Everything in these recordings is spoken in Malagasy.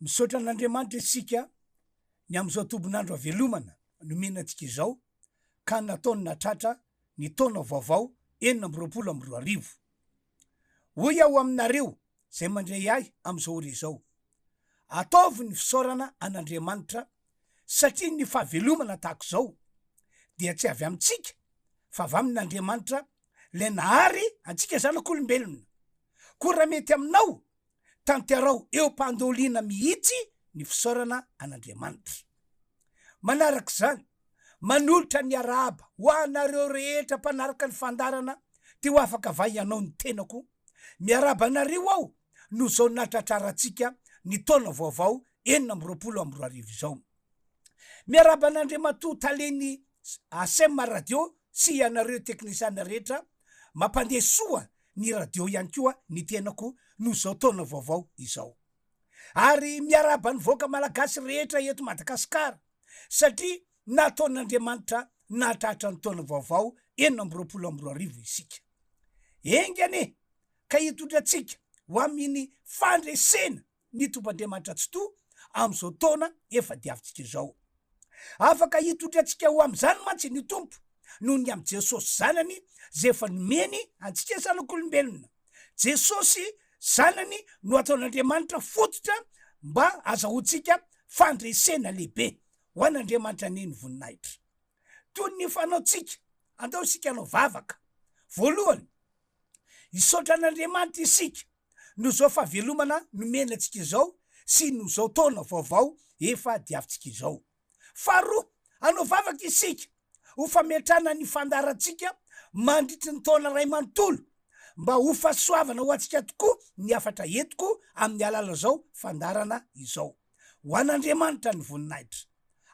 Misaotra an'Andriamanitra isika ny amin'izao tobin'andro havelomana nomena antsika izao ka nataony nahatratra ny taona vaovao enina amby roapolo amby roa arivo. Hoy aho aminareo izay mandray ahy amin'izao ora izao, ataovy ny fisaorana an'Andriamanitra satria ny fahavelomana tahaka izao dia tsy avy amintsika fa avy amin'Andriamanitra ilay nahary antsika zanak'olombelona. Koa raha mety aminao Tanterao eo am-pandohalina mihitsy ny fisaorana an'Andriamanitra. Manaraka izany, manolotra ny arahaba ho anareo rehetra mpanaraka ny fandaharana dia ho afaka va ianao ny tenako? Miarahaba anareo aho noho izao natratrarantsika ny taona vaovao enina amby roapolo amby roa arivo izao. Miarahaba an'Andriamatoa Talen'ny Asem Radio sy ianareo teknisiana rehetra Mampandeha soa ny radio ihany koa ny tenako noho izao taona vaovao izao. Ary miarahaba ny vahoaka malagasy rehetra eto Madagasikara satria nataon'Andriamanitra nahatratra ny taona vaovao enina amby roapolo amby roa arivo isika. Enga anie ka hitondra antsika ho amin'ny fandresena ny Tompoandriamanitra Tsitoha amin'izao taona efa diavintsika izao. Afaka hitotry antsika ho amin'izany mantsy ny Tompo noho ny amin'i Jesosy Zanany izay efa nomeny antsika zanak'olombelona. Jesosy Zanany no ataon'Andriamanitra fototra mba hazahoantsika fandresena lehibe ho an'Andriamanitra Neny voninahitra. Toy ny fanaontsika, andao isika hanao vavaka. Voalohany, hisaotra an'Andriamanitra isika. noho izao fahavelomana nomeny antsika izao sy noho izao taona vaovao efa diavintsika izao. Faharoa, hanao vavaka isika ho fametrahana ny fandaharantsika mandritry ny taona iray manontolo mba ho fahasoavana ho antsika tokoa ny hafatra entiko amin'ny alalan'izao fandaharana izao. Ho an'Andriamanitra ny voninahitra.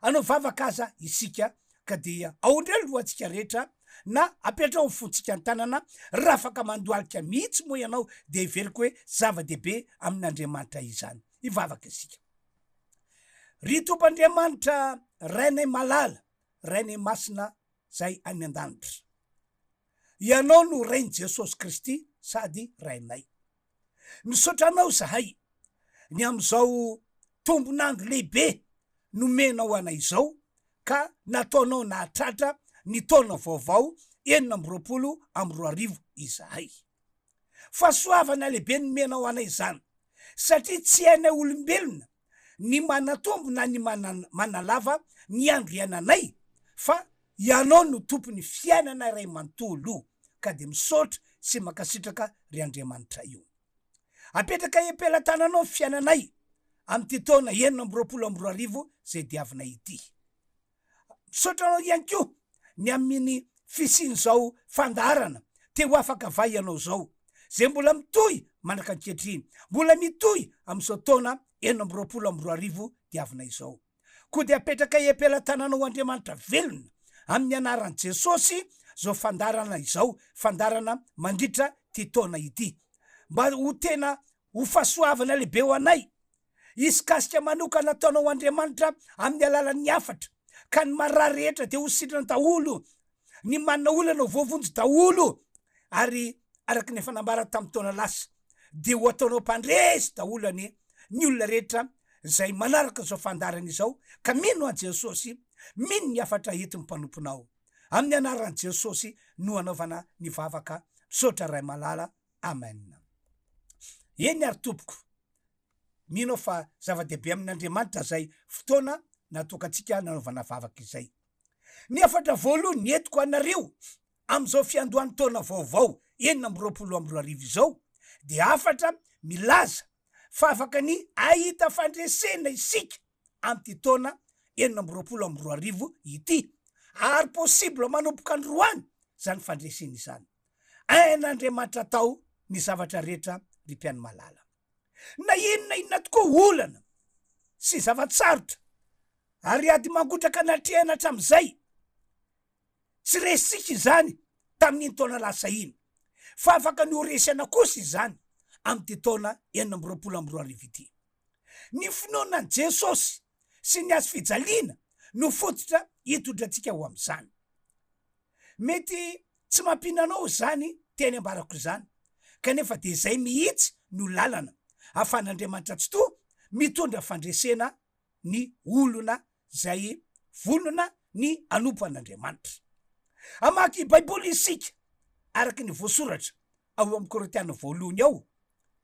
Hanao vavaka aza isika, ka dia aondray ny lohantsika rehetra, na apetraho ny fontsika an-tanana, raha afaka mandohalika mihitsy moa ianao, dia heveriko hoe zava-dehibe amin'Andriamanitra izany. Hivavaka isika. Ry Tompo Andriamanitra, Rainay malala, Rainay masina Izay any an-danitra. Ianao no Rain'i Jesosy Kristy sady Rainay. Misaotra anao zahay ny amin'izao tombon'andro lehibe nomenao anay izao ka nataonao nahatratra ny taona vaovao enina amby roapolo amby roa arivo izahay. Fahasoavana lehibe nomenao anay izany satria tsy hainay olombelona ny manatombo na ny manalava ny andro iainanay fa ianao no tompon'ny fiainana ray manontolo ka dia misaotra sy mankasitraka ry Andriamanitra io apetraka epelatananao ny fiainanay amin'ity taona enina amby roapolo amby roa arivo izay diavinay ity. Misaotra anao ihany koa ny amin'ny fisian'izao fandaharana te ho afaka va ianao izao, izay mbola mitohy mandraka ankehitriny, mbola mitohy amin'izao taona enina amby roapolo amby roa arivo diavina izao. Koa dia apetraka eam-pelatananao Andriamanitra velona, amin'ny anaran'i Jesosy, izao fandaharana izao, fandaharana mandritra ity taona ity. Mba ho tena ho fahasoavana lehibe ho anay Hisy kasika manokana ataonao Andriamanitra amin'ny alalan'ny hafatra, ka ny marary rehetra dia ho sitrana daholo, ny manana olana ho voavonjy daholo, ary araka ny efa nambara tamin'ny taona lasa, dia ho ataonao mpandresy daholo anie ny olona rehetra izay manaraka izao fandaharana izao, ka mino an'i Jesosy, mino ny hafatra entin'ny mpanomponao. Amin'ny anaran'i Jesosy no anaovana ny vavaka, misaotra Ray malala, Amen. Eny ary Tompoko, Mino aho fa zava-dehibe amin'Andriamanitra izay fotoana natokantsika nanaovana vavaka izay. Ny hafatra voalohany ny entiko anareo amin'izao fiandohan'ny taona vaovao enina amby roapolo amby roa arivo izao dia hafatra milaza fa afaka ny hahita fandresena isika amin'ity taona enina amby roapolo amby roa arivo ity ary possible manomboka androany izany fandresena izany. Ain' Andriamanitra atao ny zavatra rehetra ry mpihaino malala. Na inona inona tokoa olana sy zava-tsarotra ary ady mangotraka natrehana hatramin'izay, tsy resintsika izany tamin'iny taona lasa iny fa afaka ny ho resena kosa izany amin'ity taona enina amby roapolo amby roa arivo ity. Ny finoana an'i Jesosy sy ny Hazo fijaliana no fototra hitondrantsika ho amin'izany. Mety tsy mampiana anao izany teny ambarako izany, kanefa dia izay mihitsy no lalana ahafahan'Andriamanitra Tsitoha mitondra fandresena ny olona izay vonona ny hanompo an'Andriamanitra. Hamaky Baiboly isika araka ny voasoratra ao amin'ny Korintiana Voalohany ao,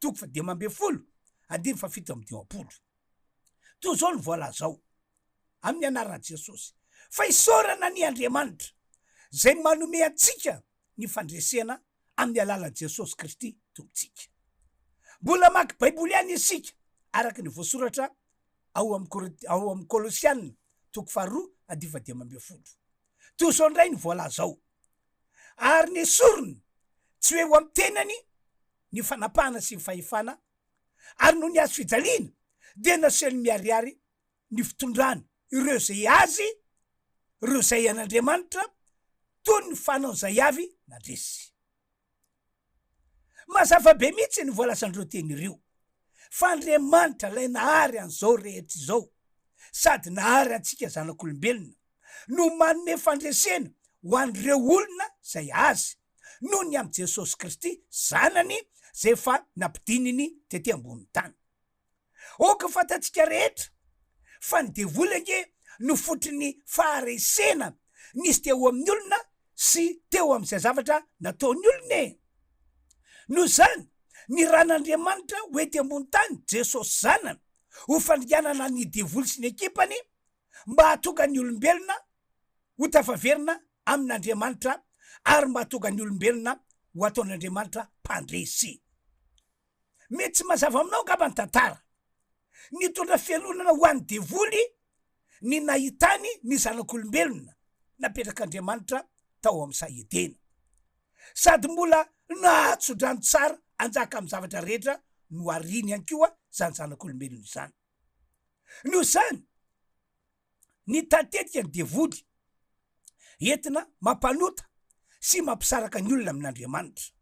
toko fahadimy ambin'ny folo, andininy fahafito amin'ny dimampolo. Toy izao no voalaza ao, amin'ny anaran'i Jesosy, fa isaorana ny Andriamanitra izay manome antsika ny fandresena amin'ny alalan'i Jesosy Kristy Tompontsika. Mbola mamaky Baiboly ihany isika, araka ny voasoratra ao amin'ny Korinti- ao amin'ny Kolosianina, toko faharoa, andivo fahadimy ambin'ny folo. Toy izao indray ny voalaza ao, Ary nesoriny tsy hoe ho amin'ny tenany ny fanapahana sy ny fahefana, ary noho ny hazo fijaliana dia nasehony miharihary ny fitondrany ireo izay azy, ireo izay an'Andriamanitra, toy ny fanao izay avy nandresy. Mazava be mihitsy ny voalazan'ireo teny ireo, fa Andriamanitra ilay nahary an'izao rehetra izao sady nahary antsika zanak'olombelona no manome fandresena ho an'ireo olona izay azy, noho ny amin'i Jesosy Kristy Zanany izay efa nampidininy tety ambonin'ny tany. Aoka fantatsika rehetra fa ny devoly ange no fotrin'ny faharesena nisy teo amin'ny olona sy teo amin'izay zavatra nataon'ny olona e! Noho izany, niran'Andriamanitra ho ety ambony tany Jesosy Zanany ho fandringanana ny devoly sy ny ekipany mba hahatonga ny olombelona ho tafaverina amin'Andriamanitra ary mba hahatonga ny olombelona ho ataon'Andriamanitra mpandresy. Mety tsy mazava aminao angamba ny tantara. Nitondra fialonana ho an'ny devoly ny nahitany ny zanak'olombelona napetrak'Andriamanitra tao amin'ny saha Edena. Sady mbola nahatso-drano tsara hanjaka amin'ny zavatra rehetra nohariany ihany koa izany zanak'olombelona izany. Noho izany, ny tantetika ny devoly entina mampanota sy mampisaraka ny olona amin'Andriamanitra.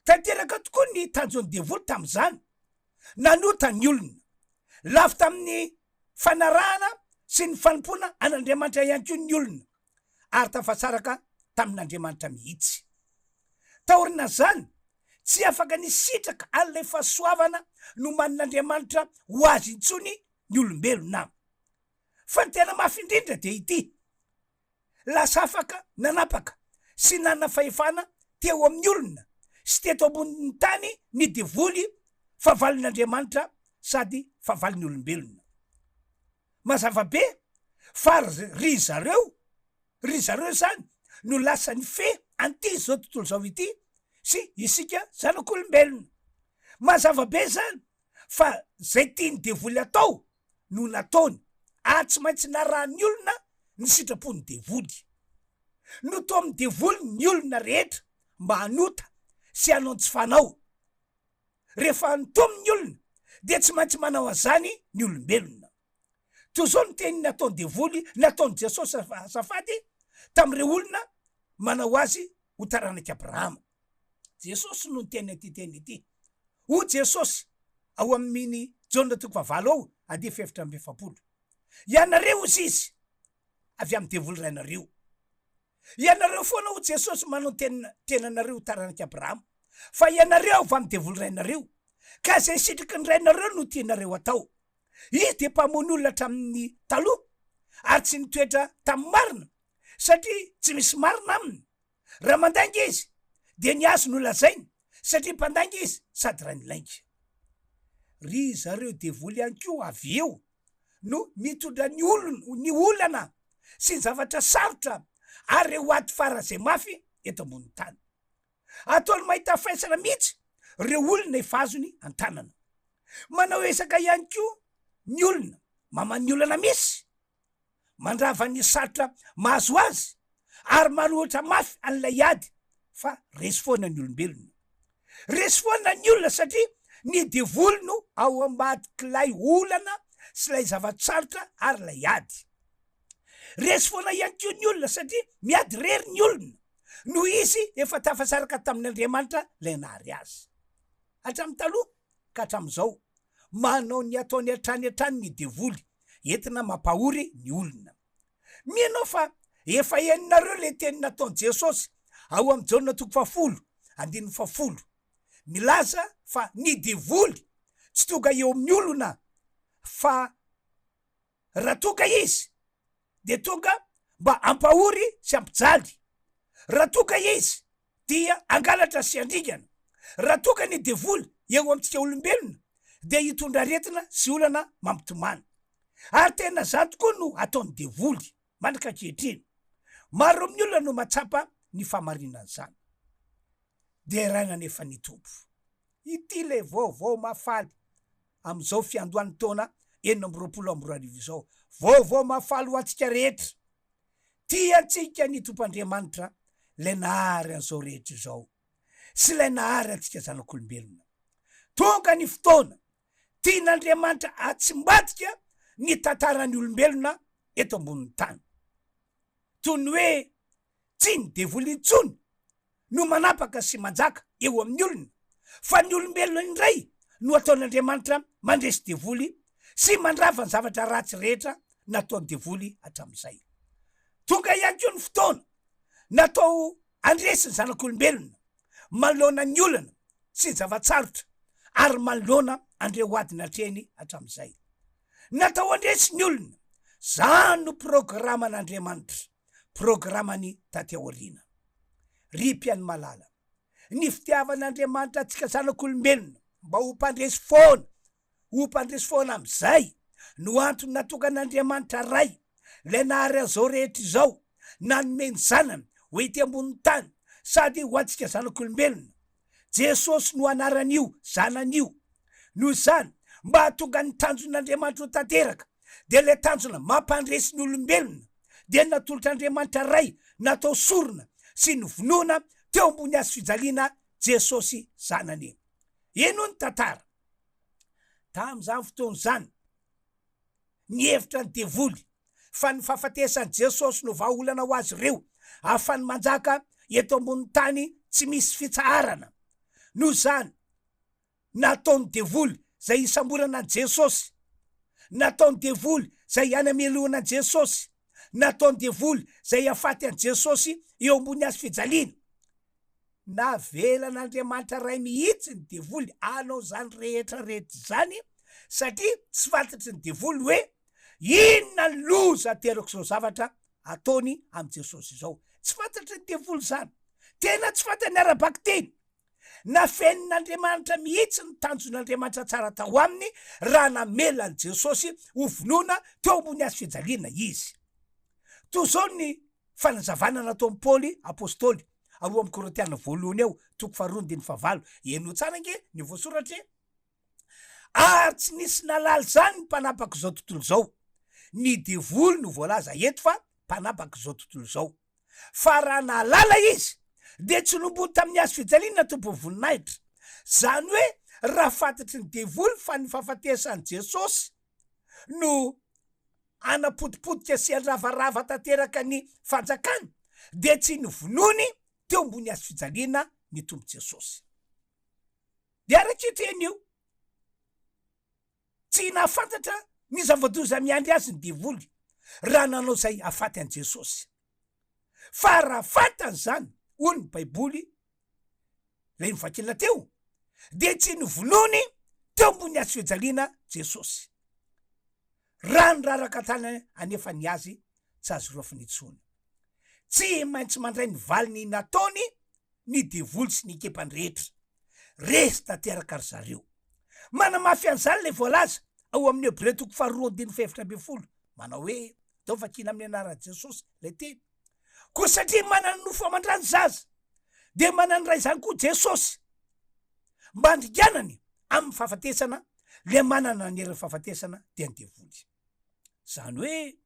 Tanteraka tokoa ny tanjon'ny devoly tamin'izany, nanota ny olona. Lavo tamin'ny fanarahana sy ny fanompoana an'Andriamanitra ihany koa ny olona, ary tafasaraka tamin'Andriamanitra mihitsy. Taorinan'izany, tsy afaka nisitraka an'ilay fahasoavana nomanin'Andriamanitra ho azy intsony ny olombelona nam. Fa ny tena mafy indrindra dia ity, lasa afaka nanapaka sy nanana fahefana teo amin'ny olona sy teto ambonin'ny tany ny devoly fa valin'Andriamanitra sady fa valin'ny olombelona. Mazava be fa ry zareo, ry zareo izany no lasa nifehy an'ity izao tontolo izao ity sy isika zanak'olombelona. Mazava be izany. fa zay tiany devoly atao no nataony ary tsy maintsy narahany olona ny sitrapony devoly no to aminy devoly ny olona rehetra mba hanota sy hanao ny tsy fanao rehefa antom ny olona dia tsy maintsy manao azany ny olombelona to zao ny teny nataony devoly nataony jesosy azafady tamire olona manao azy ho taranaky abrahama Jesosy no niteny ity teny ity. Hoy Jesosy ao amin'i Jaona toko fahavalo ao, andiany fahefatra amby efapolo, Ianareo, hozy izy, avy amin'ny devoly rainareo. Ianareo foana, hoy Jesosy, manao ny ten- tenanareo ho taranak'i Abrahama, fa ianareo avy amin'ny devoly rainareo, ka izay sitraky ny rainareo no tianareo atao. Izy dia mpamono olona hatramin'ny taloha, ary tsy nitoetra tamin'ny marina, satria tsy misy marina aminy. Raha mandainga izy dia ny azy no lazainy satria mpandainga izy sady rain'ny lainga. Ry zareo devoly ihany koa avy eo no mitondra ny olona, ny olana sy ny zavatra sarotra ary ho ato farany izay mafy eto ambonin'ny tany. Ataony mahita faisana mihitsy ireo olona efa azony an-tanana. Manao ezaka ihany koa ny olona mamaha ny olana misy. mandrava ny sarotra mahazo azy ary manohitra mafy an'ilay ady fa resy foana ny olombelona. Resy foana ny olona satria ny devoly no ao ambadik'ilay olana sy ilay zava-tsarotra ary ilay ady. Resy foana ihany koa ny olona satria miady irery ny olona noho izy efa tafasaraka tamin'Andriamanitra ilay nahary azy. Hatramin'ny taloha ka hatramin'izao, manao ny ataony hatrany hatrany ny devoly. entina mampahory ny olona. Mino aho fa efa henonareo ilay teny nataon'i Jesosy ao amin'i Jaona toko fahafolo, andininy fahafolo, milaza fa ny devoly tsy tonga eo amin'ny olona fa raha toa ka izy dia tonga mba hampahory sy hampijaly. Raha toa ka izy dia hangalatra sy handringana. Raha toa ka ny devoly eo amintsika olombelona dia hitondra aretina sy olana mampitomany. Ary tena izany tokoa no ataon'ny devoly mandraka ankehitriny. Maro amin'ny olona no mahatsapa ny fahamarinana izany. Deraina anefa ny Tompo. Ity ilay vaovao mahafaly amin'izao fiandohan'ny taona enina amby roapolo amby roa arivo izao. Vaovao mahafaly ho antsika rehetra. Tiantsika ny Tompoandriamanitra Ilay nahary an'izao rehetra izao sy Ilay nahary antsika zanak'olombelona. Tonga ny fotoana tian'Andriamanitra hatsimbadika ny tantaran'ny olombelona eto ambonin'ny tany. Toy ny hoe tsy ny devoly intsony. no manapaka sy manjaka eo amin'ny olona, fa ny olombelona indray no ataon'Andriamanitra mandresy devoly sy mandrava ny zavatra ratsy rehetra nataon'ny devoly hatramin'izay. Tonga ihany koa ny fotoana natao handresy ny zanak'olombelona manoloana ny olana sy ny zava-tsarotra ary manoloana an'ireo ady natrehiny hatramin'izay. Natao handresy ny olona, izany no programan'Andriamanitra. programany taty aoriana. Rip an'i Malala. Ny fitiavan'Andriamanitra antsika zanak'olombelona mba ho mpandresy foana, ho mpandresy foana amin'izay no antony natokan'Andriamanitra Ray, ilay nahary an'izao rehetra izao, nanome ny Zanany ho ety ambonin'ny tany sady ho antsika zanak'olombelona. Jesosy no anaran'io Zanany io. Noho izany, mba hahatonga ny tanjon'Andriamanitra ho tanteraka, dia ilay tanjona mampandresy ny olombelona, dia ny natolotr'Andriamanitra Ray natao sorona sy novonoina teo ambony hazofijaliana Jesosy Zanany. Inoa ny tantara. Tamin'izany fotoana izany. Nihevitra ny devoly fa ny fahafatesan'i Jesosy no vahaolana ho azy ireo ahafany manjaka eto ambonin'ny tany tsy misy fitsaharana. Noho izany, nataon'ny devoly izay hisamborana an'i Jesosy. Nataon'ny devoly izay hanamelohana an'i Jesosy. Nataon'ny devoly izay hahafaty an'i Jesosy eo ambony hazofijaliana. Navelan'Andriamanitra Ray mihitsy ny devoly hanao izany rehetra rehetra izany satria tsy fantatry ny devoly hoe inona ny loza aterak'izao zavatra ataony amin'i Jesosy izao. Tsy fantatry ny devoly izany. Tena tsy fantany ara-bakiteny. Nafenin'Andriamanitra mihitsy ny tanjon'Andriamanitra tsara tao aminy raha namela an'i Jesosy hovonoina teo ambony hazofijaliana izy. Toy izao ny Fanazavana nataon'i Paoly apostoly ary ho amin'ny Korintiana voalohany ao, toko faharoa andininy fahavalo. Henoy tsara ange ny voasoratra e! Ary tsy nisy nalala izany ny mpanapak'izao tontolo izao. Ny devoly no voalaza eto fa mpanapak'izao tontolo izao. Fa raha nahalala izy, dia tsy nobony tamin'ny hazo fijaliany na tompon'ny voninahitra. Izany hoe raha fantatry ny devoly fa ny fahafatesan'i Jesosy, no hanapotipotika sy handravarava tanteraka ny fanjakany dia tsy novonoiny teo ambony hazo fijaliana ny Tompo Jesosy. Dia ara-ketrehiny io. Tsy nahafantatra ny zava-doza miandry azy ny devoly raha nanao izay hahafaty an'i Jesosy. Fa raha fantany izany, hoy ny Baiboly, lay nivakilina teo, dia tsy novonoiny teo ambony hatsofijaliana Jesosy. Raha ny raraka tany anefa ny azy, tsy azo raofina intsony. Tsy maintsy mandray ny valiny nataony ny devoly sy ny ekipany rehetra. Resy tanteraka ry zareo. Manamafy an'izany ilay voalaza ao amin'ny Hebreo toko faharoa andininy fahefatra ambin'ny folo, manao hoe, Ataovy vakina amin'ny anaran'i Jesosy ilay teny. Koa satria manana nofo aman-drà ny zaza, dia manana raha izany koa Jesosy, mba handringanany amin'ny fahafatesana ilay manana ny herin'ny fahafatesana, dia ny devoly. Izany hoe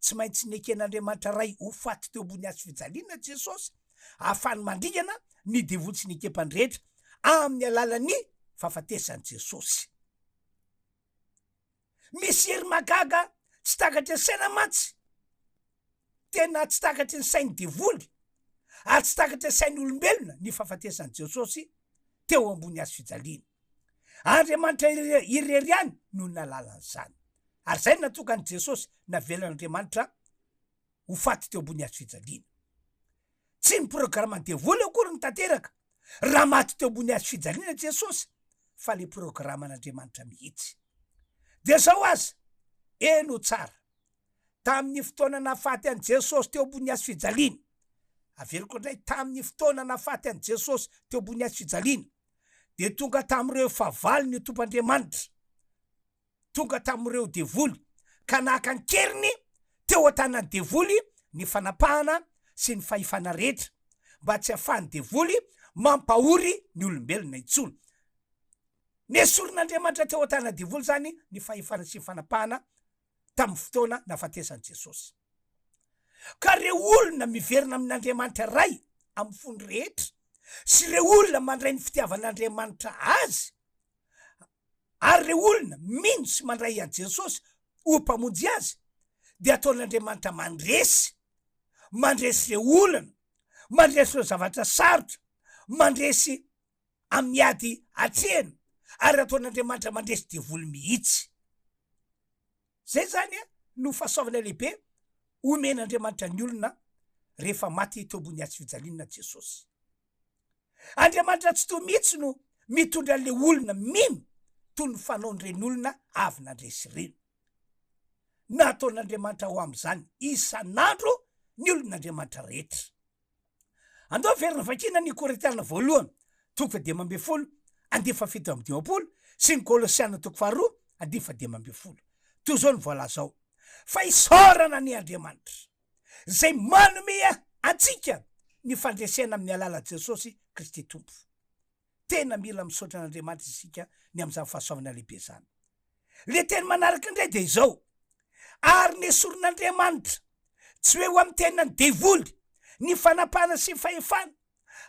tsy maintsy neken'Andriamanitra Ray ho faty teo ambony hazo fijaliana Jesosy, ahafahany mandringana ny devoly sy ny ekepany rehetra amin'ny alalan'ny fahafatesan'i Jesosy. Misy hery mahagaga tsy takatry ny saina mantsy, tena tsy takatry ny sain'ny devoly ary tsy takatry ny sain'ny olombelona ny fahafatesan'i Jesosy teo ambony hazo fijaliana. Andriamanitra irery ihany no nahalala an'izany. Ary izay no natokan'i Jesosy navelan'Andriamanitra ho faty teo ambony hazo fijaliana. Tsy ny programan'ny devoly akory no tanteraka raha maty teo ambony hazo fijaliana Jesosy fa le programan'Andriamanitra mihitsy. Dia zao aza, eny ho tsara, tamin'ny fotoana nahafaty an'i Jesosy teo ambony hazo fijaliana, averiko indray, tamin'ny fotoana nahafaty an'i Jesosy teo ambony hazo fijaliana, dia tonga tamin'ireo fahavalony io Tompo Andriamanitra. Tonga tamin'ireo devoly, ka naka an-keriny teo an-tanan'ny devoly ny fanapahana sy ny fahefana rehetra, mba tsy hahafahan'ny devoly mampahory ny olombelona intsony. Nesorin'Andriamanitra teo an-tanan'ny devoly izany ny fahefana sy ny fanapahana tamin'ny fotoana nahafatesan'i Jesosy. Ka ireo olona miverina amin'Andriamanitra Ray amin'ny fony rehetra sy ireo olona mandray ny fitiavan'Andriamanitra azy, Ary ireo olona mino sy mandray an'i Jesosy ho Mpamonjy azy dia ataon'Andriamanitra mandresy, mandresy ireo olana, mandresy ireo zavatra sarotra, mandresy amin'ny ady hatrehina, ary ataon'Andriamanitra mandresy devoly mihitsy. Izay izany no fahasoavana lehibe omen'Andriamanitra ny olona rehefa maty teo ambony hazo fijaliana Jesosy. Andriamanitra tsy toy mihitsy no mitondra an'ilay olona mino toy ny fanaon'ireny olona avy nandresy ireny. Nataon'Andriamanitra ho amin'izany isan'andro ny olon'Andriamanitra rehetra. Andao averina vakiana ny Korintiana voalohany toko fahadimy ambin'ny folo andihy fahafito amby dimampolo sy ny Kolosiana toko faharoa andihy fahadimy ambin'ny folo. Toy izao no voalaza ao, Fa isaorana ny Andriamanitra. izay manome antsika ny fandresena amin'ny alalan'i Jesosy Kristy Tompo. Tena mila misaotra an'Andriamanitra isika ny amin'izany fahasoavana lehibe izany. Le teny manaraka indray dia izao, ary nesorin'Andriamanitra tsy hoe ho amin'ny tenan'ny devoly ny fanapahana sy ny fahefana,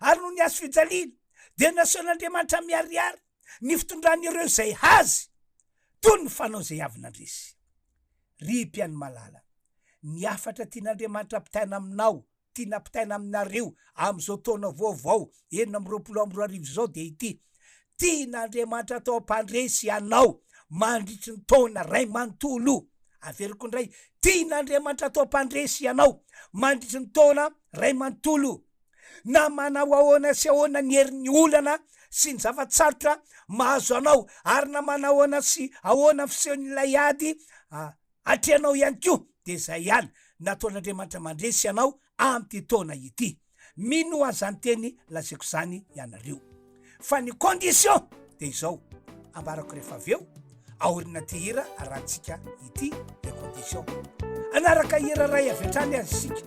ary noho ny hazofijaliana dia nasehon'Andriamanitra miharihary ny fitondran'ireo izay hazy toy ny fanao izay avy nandresy. Ry mpihaino malala, ny hafatra tian'Andriamanitra ampitaina aminao, tiana ampitaina aminareo amin'izao taona vaovao enina amby roapolo amby roa arivo izao dia ity, Tian'Andriamanitra atao mpandresy ianao mandritry ny taona ray manontolo. Averiko indray, tian'Andriamanitra atao mpandresy ianao mandritry ny taona ray manontolo. Na manao ahoana sy ahoana ny herin'ny olana sy ny zava-tsarotra mahazo anao, ary na manao ahoana sy ahoana ny fisehon'ilay ady, Atrehanao ihany koa dia izay ihany nataon'Andriamanitra mandresy anao amin'ity taona ity. Mino aho izany teny lazaiko izany ianareo. Fa ny condition dia izao, ambarako rehefa avy eo aorian'ity hira arantsika ity le condition. Hanaraka hira iray avy hatrany ary isika.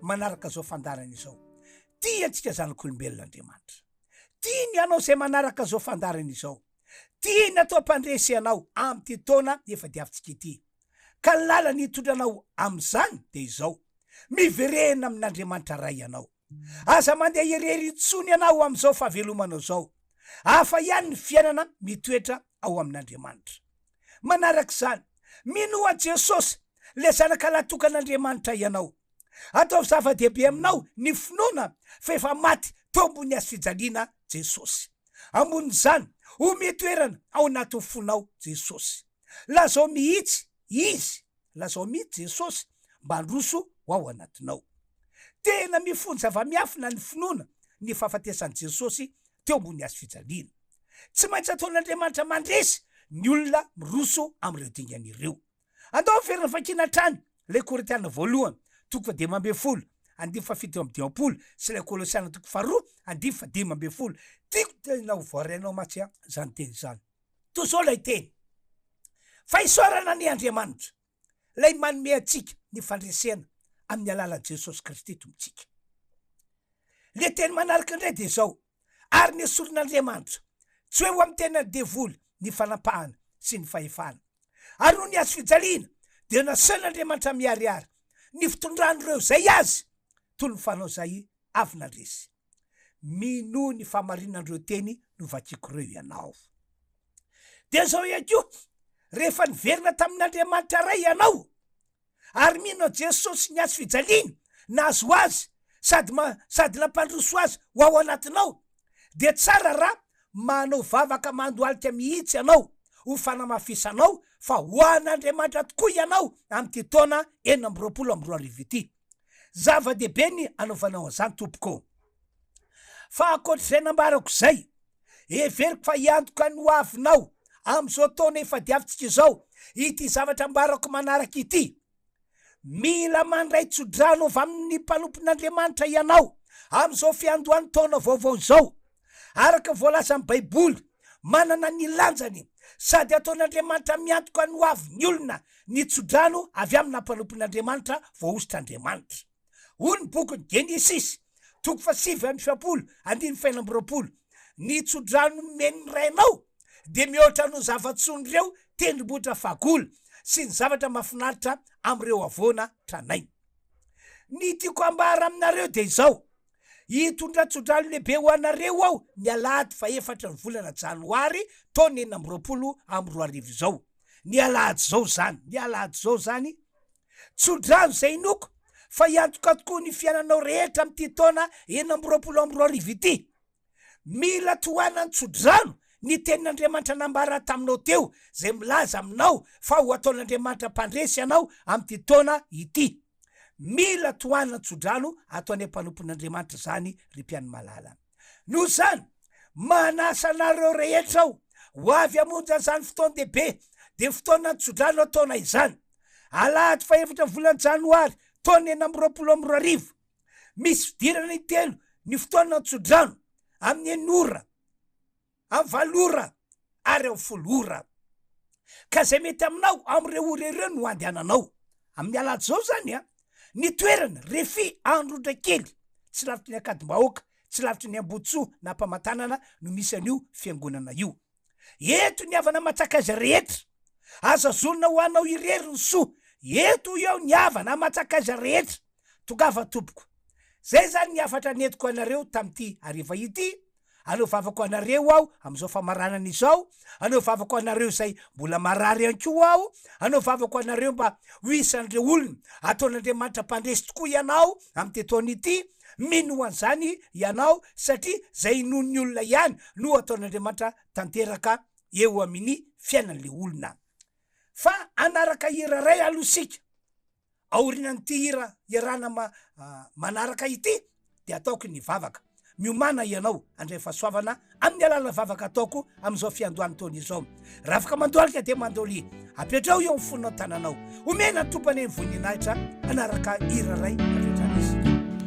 manaraka izao fandarany izao tia antsika zanak'olombelona andriamanitra tiany ianao izay manaraka izao fandarany izao tia ny atao mpandresy ianao amity taona efa diavintsika ity ka ny lalany hitondranao am'izany de izao miverena amin'andriamanitra ray ianao aza mandeha irery intsony ianao am'izao fahavelomanao zao afa ihany ny fiainana mitoetra ao amin'andriamanitra Manaraka izany, minoa Jesosy, ilay Zanakalahy tokan'Andriamanitra ianao. Ataovy zava-dehibe aminao ny finoana fa efa maty teo ambony hazofijaliana Jesosy. Ambonin'izany, omeo toerana ao anatin'ny fonao Jesosy. Lazao mihitsy Izy. Lazao mihitsy Jesosy mba handroso ho ao anatinao. Tena mifono zava-miafina ny finoana ny fahafatesan'i Jesosy teo ambony hazo fijaliana. Tsy maintsy ataon'Andriamanitra mandresy ny olona miroso amin'ireo dingana ireo. Andao heverina vakiana hatrany ilay Korintiana voalohany toko fahadimy ambin'ny folo andinin'ny fahafito amby dimampolo sy ilay Kolosiana toko faharoa andinin'ny fahadimy ambin'ny folo. Tiako tena ho voarainao mantsy izany teny izany. Toa izao ilay teny, Fa isaorana anie Andriamanitra, ilay manome antsika ny fandresena amin'ny alalan'i Jesosy Kristy Tompontsika. Ilay teny manaraka indray dia izao, Ary nesorin'Andriamanitra, tsy hoe ho amin'ny tenan'ny devoly, ny fanapahana sy ny fahefana. Ary noho ny hazo fijaliana dia nasain'Andriamanitra miharihary ny fitondran'ireo izay azy, toy ny fanao izay avy nandresy. Minoa ny fahamarinan'ireo teny novakiako ireo ianao. Dia izao ihany koa, rehefa niverina tamin'Andriamanitra Ray ianao, ary mino an'i Jesosy ny hazo fijaliana nahazo azy sady ma- sady nampandroso azy ho ao anatinao, dia tsara raha manao vavaka mandohalika mihitsy ianao ho fanamafisanao fa ho an'Andriamanitra tokoa ianao amin'ity taona enina amby roapolo amby roa arivo ity. Zava-dehibe ny anaovanao an'izany, tompoko ô. Fa ankoatr'izay nambarako izay, heveriko fa hiantoka ny ho avinao amin'izao taona efa diavintsika izao ity zavatra ambarako manaraka ity, Mila mandray tso-drano avy amin'ny mpanompon'Andriamanitra ianao amin'izao fiandohan'ny taona vaovao izao. Araka ny voalazan'ny Baiboly, manana ny lanjany sady ataon'Andriamanitra miantoka ny hoavin'ny olona ny tsodrano avy amin'ny nampanopin'Andriamanitra voahosotr'Andriamanitra. Hoy ny bokin'ny Genesisy, toko fahasivy amby efapolo, andininy fahenina amby roapolo, Ny tsodrano nomen'ny rainao dia mihoatra noho ny zava-tsoan'ireo tendrombohitra fagola sy ny zavatra mahafinaritra amin'ireo havoana tranainy. Ny tiako hambara aminareo dia izao, Hitondra tsodrano lehibe ho anareo aho ny alahady fahefatra ny volana janoary taona enina amby roapolo amby roa arivo izao. Ny alahady izao izany, ny alahady izao izany, tsodrano izay inoako fa hiantoka tokoa ny fiainanao rehetra amin'ity taona enina amby roapolo amby roa arivo ity. Mila tohanan'ny tsodrano ny tenin'Andriamanitra nambarany taminao teo, izay milaza aminao fa ho ataon'Andriamanitra mpandresy anao amin'ity taona ity. Mila tohanana tsodrano ataonay mpanompon'Andriamanitra izany ry mpihaino malala. Noho izany, manasa anareo rehetra aho ho avy hamonjy an'izany fotoan-dehibe dia fotoana tsodrano ataonay izany, alahady fahefatra volana janoary taona enina amby roapolo amby roa arivo. Misy fidirana intelo ny fotoana tsodrano, amin'ny enina ora. am valo ora ary am folo ora ka zay mety aminao amreo ora ireo no andehananao amin'ny alahady zao zany a ny toerana refi andro ndray kely tsy lavitry ny ankadimbahoaka tsy lavitry ny ambotsoa na ampamatanana no misy an'io fiangonana io eto ny havana matsakaiza rehetra aza zonona ho anao irery ny soa eto eo ny havana matsakaiza rehetra Tongava tompoko. Zay zany ny hafatra nentiko anareo tamty hariva ity, anao vavako anareo aho amzao famaranana izao, anao vavako anareo zay mbola marary ihany koa aho, anao vavako anareo mba ho isan'ireo olona ataon'Andriamanitra mpandresy tokoa ianao amty etoana ity, mino anzany ianao satria zay inoan'ny olona ihany no ataon'Andriamanitra tanteraka eo aminy fiainan'le olona. Fa anaraka hira ray aloha sika. aorianan'ity hira iarahana ma manaraka ity dia ataoko ny vavaka miomana ianao andray fahasoavana amin'ny alala vavaka ataoko amin'izao fiandohan'ny taona izao rafaka mandoalika dia mandolia apetrao eo amin'ny fonao tananao omena topany ny voninahitra anaraka hira ray avy hatrany izy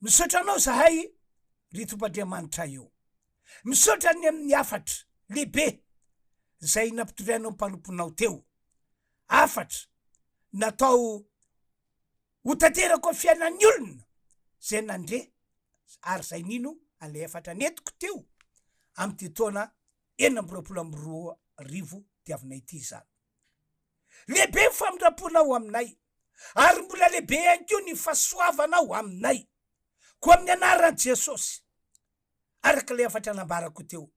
Misaotra anao zahay ry Tompoandriamanitra eo. Misaotra ny amin'ny hafatra lehibe zay nampitorianao mpanomponao teo. Hafatra natao ho tanterako ny fiainan'ny olona zay nandre ary zay nino an'ilay hafatra nentiko teo amin'ity taona enina amby roapolo amby roa arivo diavina ity izany. Lehibe ny famindram-ponao aminay, ary mbola lehibe ihany koa ny fahasoavanao aminay. Koa amin'ny anaran'i Jesosy, araka ilay hafatra nambarako teo,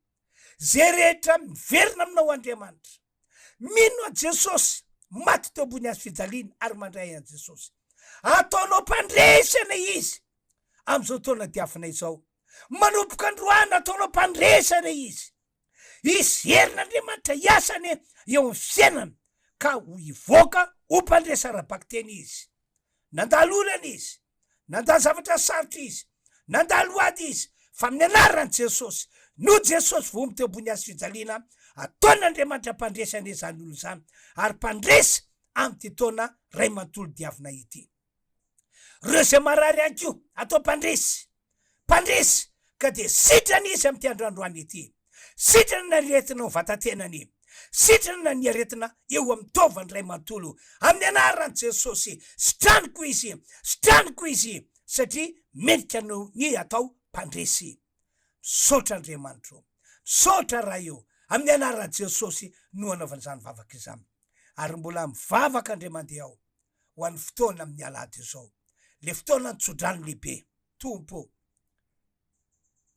izay rehetra miverina aminao Andriamanitra, mino an'i Jesosy, maty teo ambony hazo fijaliana ary mandray an'i Jesosy, ataonao mpandresy anay Izy amin'izao taona diavina izao. Manomboka androany, ataonao mpandresy anay Izy. Hisy herin'Andriamanitra hiasa anie eo amin'ny fiainany ka ho hivoaka ho mpandresy ara-bakiteny izy. Nandalo olana izy, nandalo zavatra sarotra izy, nandalo ady izy, fa amin'ny anaran'i Jesosy, noho Jesosy voa miteo ambony hazo fijaliana, ataon'Andriamanitra mpandresy anie izany olona izany ary mpandresy amin'ity taona iray manontolo diavina ity. Reo zay marary ihany koa atao mpandresy. Mpandresy ka dia sitrana izy amin'ity androandroany ity. Sitrana ny aretina ao vatatenany. Sitrana ny aretina eo amin'ny taovany ray manontolo. Amin'ny anaran'i Jesosy, sitraniko izy, sitraniko izy satria mendrika no ny atao mpandresy. Misaotra Andriamanitro. Misaotra Ray io. Amin'ny anaran'i Jesosy no anaovana izany vavaka izany. Ary mbola mivavaka ndray mandeha aho. ho an'ny fotoana amin'ny alahady izao. Le fotoana ny tsodrano lehibe. Tompo ô!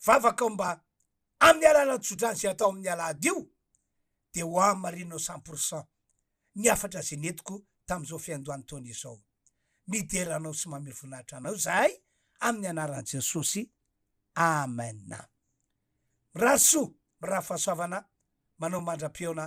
Vavaka aho mba amin'ny alalan'ny tsodrano izay atao amin'ny alahady io dia ho hamarinao cent pour cent ny hafatra izay nentiko tamin'izao fiandohan'ny taona izao. Midera anao sy mamely voninahitra anao izahay amin'ny anaran'i Jesosy. Amen. Mirary soa, mirary fahasoavana, manao mandra-pihaona.